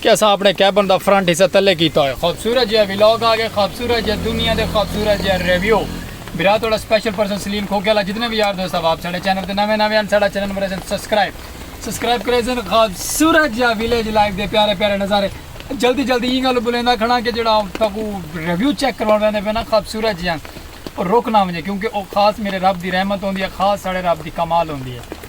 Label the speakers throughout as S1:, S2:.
S1: کہ اساں اپݨے کیبن دا فرنٹ حصہ تلے کیتا ہوئے خوبصورت جیہا ولاگ آگے خوبصورت جیہا دنیا دے خوبصورت جیہا ریویو برا تہاڈا سپیشل پرسن سلیم کھوکھے آلا جتنے وی یار دوست احباب ساڈے چینل تے نویں نویں ہن ساڈا چینل مریسن سبسکرائب سبسکرائب کریسن خوبصورت جیہا ویلیج لائف دے پیارے پیارے نظارے جلدی جلدی ایں گالوں بلیندا کھڑاں کہ جیہڑا تہاکوں ریویو چیک کرواݨ ویندے پئے نا خوبصورت جیہاں او رک نا ونجے کیونکہ او خاص میڈے رب دی رحمت ہوندی ہے خاص ساڈے رب دی کمال ہوندی ہے۔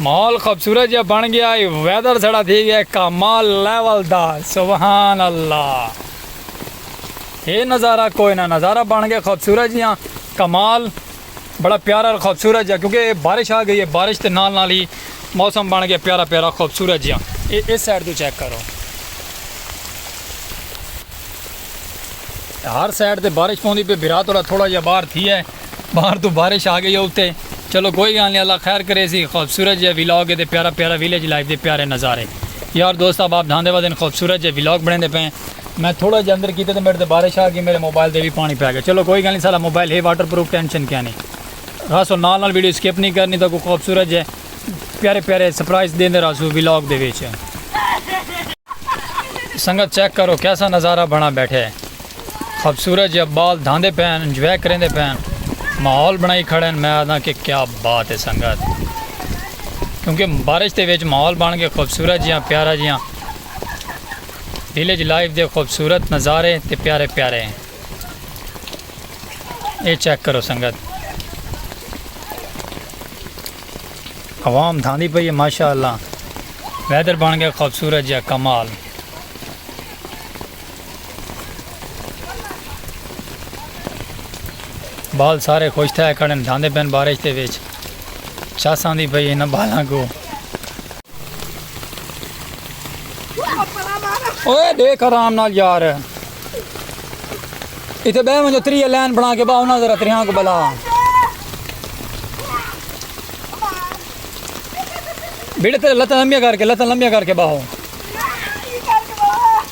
S1: ماحول خوبصورت جیہا بن گیا ہے ویدر ساڑا تھی گیا ہے کمال لیول دا سبحان اللہ اے نظارہ کوئی نہ نظارہ بن گیا خوبصورت جیہا کمال بڑا پیارا اور خوبصورت جا کیونکہ بارش آ گئی ہے بارش تے نال نال ہی موسم بن گیا پیارا پیارا خوبصورت جا اے اس سائڈ تو چیک کرو ہر سائڈ تے بارش پوندی پہ بھرا تھوڑا تھوڑا جا باہر تھی ہے باہر توں بارش آ گئی اتے چلو کوئی گالھ نی اللہ خیر کریسی خوبصورت جیہا ولاگ اے تے پیارا پیارا ویلیج لائف دے پیارے نظارے یار دوست احباب دھاندے ودن خوبصورت جیہا ولاگ بنڑیندے پئے ہیں میں تھوڑا جیہا اندر کیتے تے میڈے تے بارش آ گئی میڈے موبائل تے وی پانی پے گیا چلو کوئی گالھ نی ساڈا موبائل ہے واٹر پروف ٹینشن کینی رہسوں نال نال ویڈیو سکپ نی کرنی تہاکوں خوبصورت جیہے پیارے پیارے سرپرائز دیندے رہسوں ولاگ دے وچ سنگت چیک کرو کیسا نظارہ بنڑا بیٹھے۔ خوبصورت جیا بال دھاندے پئے ہن انجوائے کریندے پئے ہن ماحول بنڑائی کھڑے ہن میں آکھداں کہ کیا بات ہے سنگت کیونکہ بارش دے وچ ماحول بن گئے خوبصورت جیاں پیارا جیاں ویلیج لائف دے خوبصورت نظارے تے پیارے پیارے ہیں اے چیک کرو سنگت عوام دھاندی پئی ہے ماشاءاللہ ویدر بن گیا خوبصورت جیا کمال بال سارے خوش تھے کھڑے دھاندے پین بارش دے وچ چس آندی پئی انہاں بالاں کو اوے دیکھ آرام نال یار اتنے بہ ونجو تری لین بنا کے باؤ نہ ذرا تریاں کو بلا بیڑے تے لتاں لمبیاں کر کے لتاں لمبیاں کر کے باہو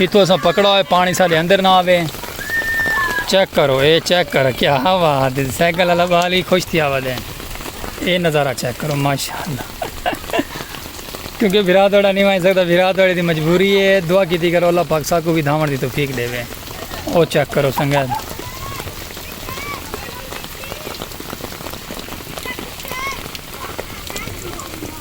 S1: اتھو اساں پکڑا ہوئے پانی ساڈے اندر نہ آوے چیک کرو اے چیک کرو کیا ہوا دے سائیکل والا بالی خوش تھی آوا دے اے نظارہ چیک کرو ماشاءاللہ کیونکہ بھرا دوڑا نہیں وائیں سکتا بھرا دوڑے دی مجبوری ہے دعا کیتی کرو اللہ پاک سا کو بھی دھاون دی توفیق دے وے او چیک کرو سنگت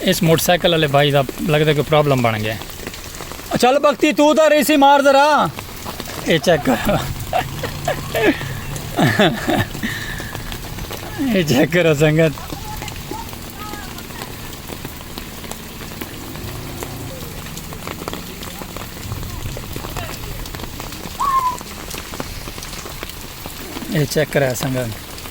S1: اس موٹر سائیکل والے بھائی دا لگدا کہ پرابلم بن گیا چل بختی تو دا ریسی مار ذرا اے چیک کر اے چیک کرو سنگت اے چیک کرا سنگت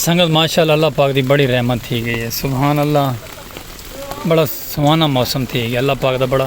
S1: سنگت ماشاء اللہ اللہ پاک دی بڑی رحمت تھی گئی ہے سبحان اللہ بڑا سہانا موسم تھی گیا اللہ پاک دا بڑا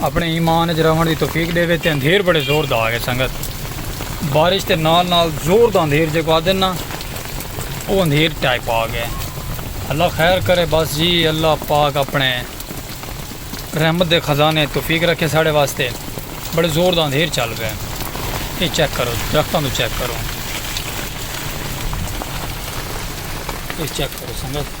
S1: اپنے ایمان اچ رہون دی توفیق ڈیوے تے اندھیر بڑے زور دا آگے سنگت بارش تے نال نال زور دا اندھیر جے کو آدن نا او اندھیر ٹائپ آگے اللہ خیر کرے بس جی اللہ پاک اپنے رحمت دے خزانے توفیق رکھے ساڑے واسطے بڑے زور دا اندھیر چل پے یہ چیک کرو درختوں تو چیک کرو یہ چیک کرو سنگت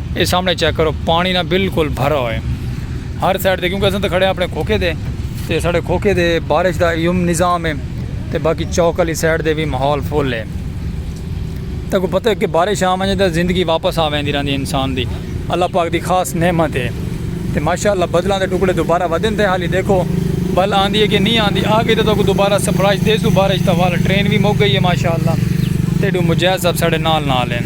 S1: اے سامنے چیک کرو پانی نہ بالکل بھرا ہوئے ہر سائیڈ دے کیونکہ اساں تے کھڑے ہیں اپنے کھوکے دے تے ساڑے کھوکے دے بارش دا ایوم نظام ہے تے باقی چوک علی سائیڈ دے بھی ماحول فل ہے تے کو پتہ ہے کہ بارش آ ونجے تے زندگی واپس آ ویندی رہندی انسان دی اللہ پاک دی خاص نعمت ہے تے ماشاءاللہ بدلاں دے ٹکڑے دوبارہ ودن تے حالی دیکھو بل آندی ہے کہ نہیں آندی آ گئی تے تو کو دوبارہ سپرائز دے سو بارش دا والا ٹرین بھی مک گئی ہے ماشاءاللہ تے ڈو مجاہد صاحب ساڑے نال نال ہیں۔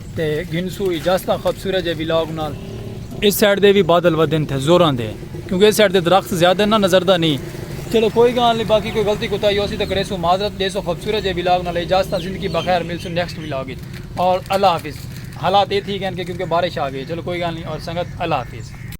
S1: تے گھنسو اجازتاں خوبصورت جے ولاگ نال۔ اس سائیڈ دے وی بادل ودھن تھے زوراں دے کیونکہ اس سائیڈ دے درخت زیادہ نہ نظر دا نی۔ چلو کوئی گالھ نی باقی کوئی غلطی کوتاہی ہوسی تاں کریسوں معذرت ڈیسوں خوبصورت جے ولاگ نال اجازتاں زندگی بخیر ملسوں نیکسٹ ولاگ وچ اور اللہ حافظ حالات اے تھی گئن کہ کیونکہ بارش آ گئی چلو کوئی گالھ نی اور سنگت اللہ حافظ۔